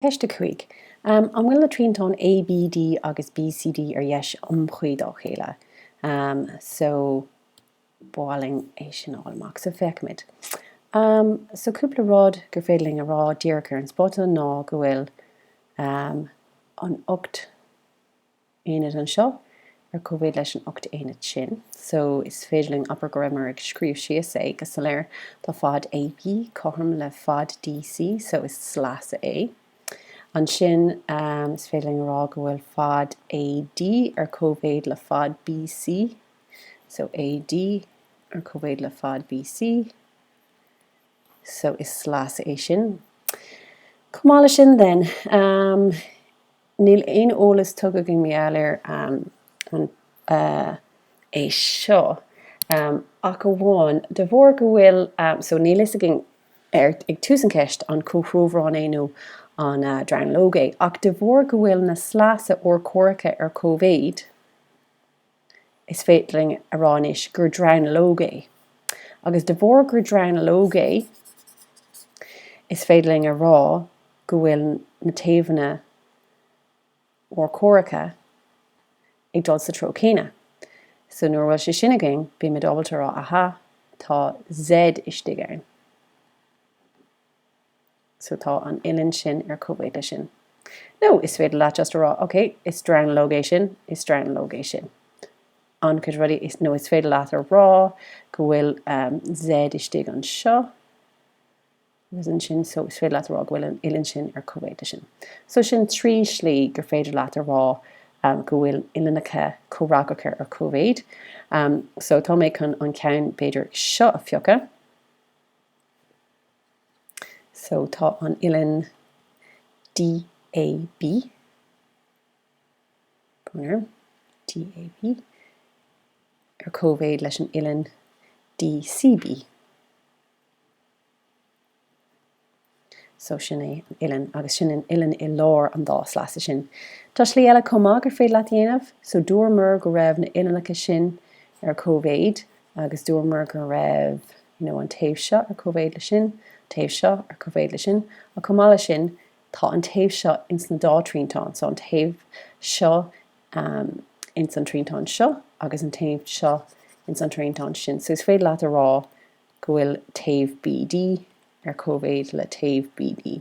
Ceist a cúig. An bhfuil na triantáin A, B, D agus B, C, D ar dheis iomchuí dá chéile? So, b'áil linn é sin a fháil amach. So, féachaimid. So, cúpla rud gur féidir linn a rá díreach ar an spota ná go bhfuil an ocht aonad anseo ar cóimhéid leis an ocht aonad sin so is féidir linn abair go rabhamar ag scríobh síos é go soiléir. Tá fad AB cothrom le fad DC so is slios é. Ansin is féidir linn a rá go bhfuil fad AD ar cóimhéid le fad BC so AD ar cóimhéid le fad BC so is slios é sin. Chomh maith leis sin then, Níl aon eolas tugtha i ngeall air é seo ach amháin de bharr go bhfuil so níl fhios againn ag tús an cheist an comhthreomharán é nó an dronuilleog é ach de bharr go bhfuil na sleasa urchomhaireacha ar cóimhéid Is féidir linn a rá anois gur dronuilleog é, agus de bharr gur dronuilleog é, is féidir linn a rá go bhfuil na taobhanna urchomhaireacha ag dul sa treo céanna. So nuair a bhfuil sé sin againn, beimid ábalta a rá, aha, tá Z istigh ann. so tá an uillinn sin ar cóimhéid leis sin. Nó is féidir leat just a rá, ok, is dronuilleog é sin, is dronuilleog é sin. An chéad rud eile, nó is féidir leat a rá go bhfuil Z istigh anseo, agus ansin, so is féidir leat a rá go bhfuil an uillinn sin ar cóimhéid leis sin. So sin trí shlí gur féidir leat a rá go bhfuil uillinneacha comhfhreagracha ar cóimhéid. So tá mé chun an ceann b'fhéidir seo a phiocadh. So tá an uillinn DAB, DAB, ar cóimhéid leis an uillinn DCB. So sin é an uillinn, agus sin an uillinn i lár an dá sleasa sin. Tá slí eile chomh maith gur féidir leat a dhéanamh, so dúramar go raibh na uillinneacha sin ar cóimhéid, agus dúramar go raibh nó an taobh seo ar cóimhéid le sin, taobh seo ar cóimhéid le sin, ach chomh maith le sin, tá an taobh seo ins na dá triantán so, an taobh seo ins an triantán seo agus an taobh seo ins an triantán sin so is féidir leat a rá go bhfuil taobh BD ar cóimhéid le taobh BD.